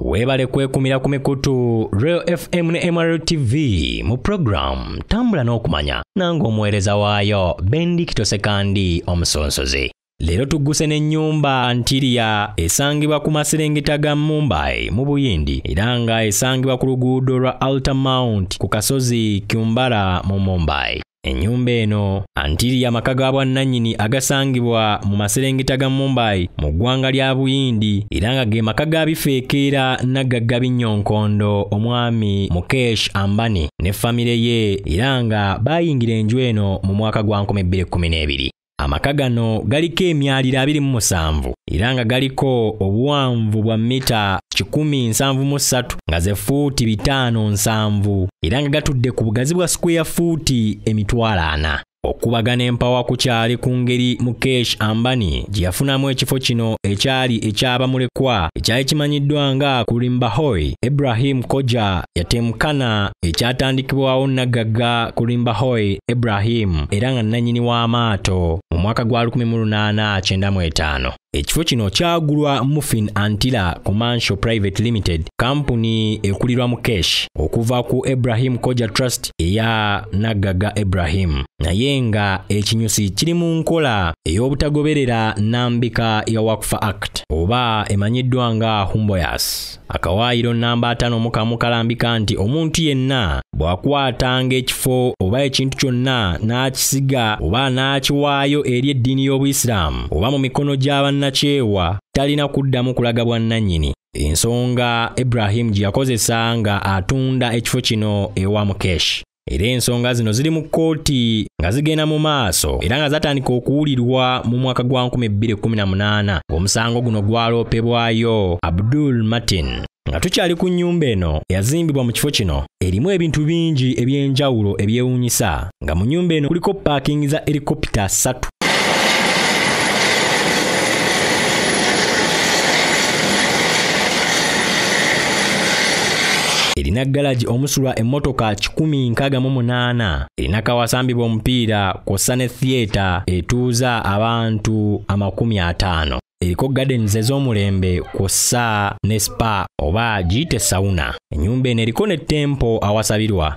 Weebale kwekumira ku mikutu Real FM ne MRL TV mu program tambula n'okumanya nange omuweereza waayo Bendik Tosekandi omusonsozi. Leero tugguse n'ennyumba Ntiria esangibwa ku maserengeta ga Mumbai mu Buyindi era nga esangibwa ku luguudo lwa Alta Mount ku kasozi Kyumbara mu Mumbai. Ennyumba eno antiri y'amaka ga bwannannyini agasangibwa mu maserengeta ga Mumbai mu ggwanga lya Buyindi era nga ge maka ga bifeekeera naggagga binnyonkondo omwami Mukesh Ambani ne famire ye era nga baayingira enju eno mu mwaka gwa 2012. Amaka gano galiko emyaliro abiri mu musanvu era nga galiko obuwanvu bwa mita kikumi nsanvu mu ssatu nga ze fuuti bitaano nsanvu era nga gatudde ku bugazi bwa sikweya fuuti emitwalo ana. Okubagana empawa ku kyali ku ngeri Mukesh Ambani gye yafunamu ekifo kino ekyali eky'abamulekwa ekyali kimanyiddwa nga Kurimba Hoy, Ibrahim Koja yatemukana ekyatandikibwawo nnaggagga Kurimba Hoy Ibrahim era nga nnannyini w'amaato mu mwaka gwa 1895. Ekifo kino kyagulwa Muffin Antila Commercial Private Limited, kampuni ekulirwa mu Kesh okuva ku Ibrahim Koja Trust eya Naggaga Ibrahim, naye nga ekinyusi kiri mu nkola ey'obutagoberera nnambika ya Waqf Act. oba emanyiddwa nga humboyas akawaayiro nnamba ataano mu kamu kalambika nti omuntu yenna bw'akwatanga ekifo oba ekintu kyonna n'akisiga oba n'akiwaayo eri eddiini y'obuyisiraamu oba mu mikono gy'abannakyewa talina kuddamu kulaga bwannannyini ensonga ibrahimu gye yakozesa nga atunda ekifo kino ewa mukeshi era ensonga zino ziri mu kkooti nga zigenda mu maaso era nga zatandika okuwulirwa mu mwaka gwa 2018 ng'omusango guno gwaloopebwayo abdul martin nga tukyali ku nnyumba eno eyazimbibwa mu kifo kino erimu ebintu bingi eby'enjawulo ebyewuunyisa nga mu nnyumba eno kuliko paakingi za erikopita ssatu erina galagi omusulwa emmotoka 168 erina kawasambibwa omupiira kw'ossa ne thiyeta etuuza abantu amakumi ataano eriko gardens ez'omulembe kw'ossa ne spa oba giyite sauna ennyumba eno eriko ne tempo awasabirwa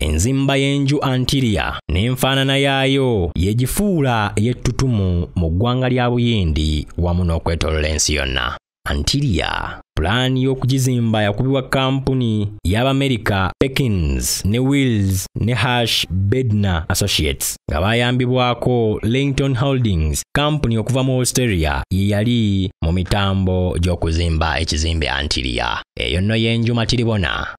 Enzimba y'enju Antilia n'enfaanana yaayo yegifuula ey'ettutumu mu ggwanga lya Buyindi wamu n'okwetolola ensi yonna. Antilia pulaani y'okugizimba yakubibwa kampuni y'Abamerika Perkins ne Wills ne Hash Bednar Associates nga bayambibwako Langton Holdings kampuni okuva mu Australia ye yali mu mitambo gy'okuzimba ekizimbe Antilia. Eyo nno y'enju Matiribona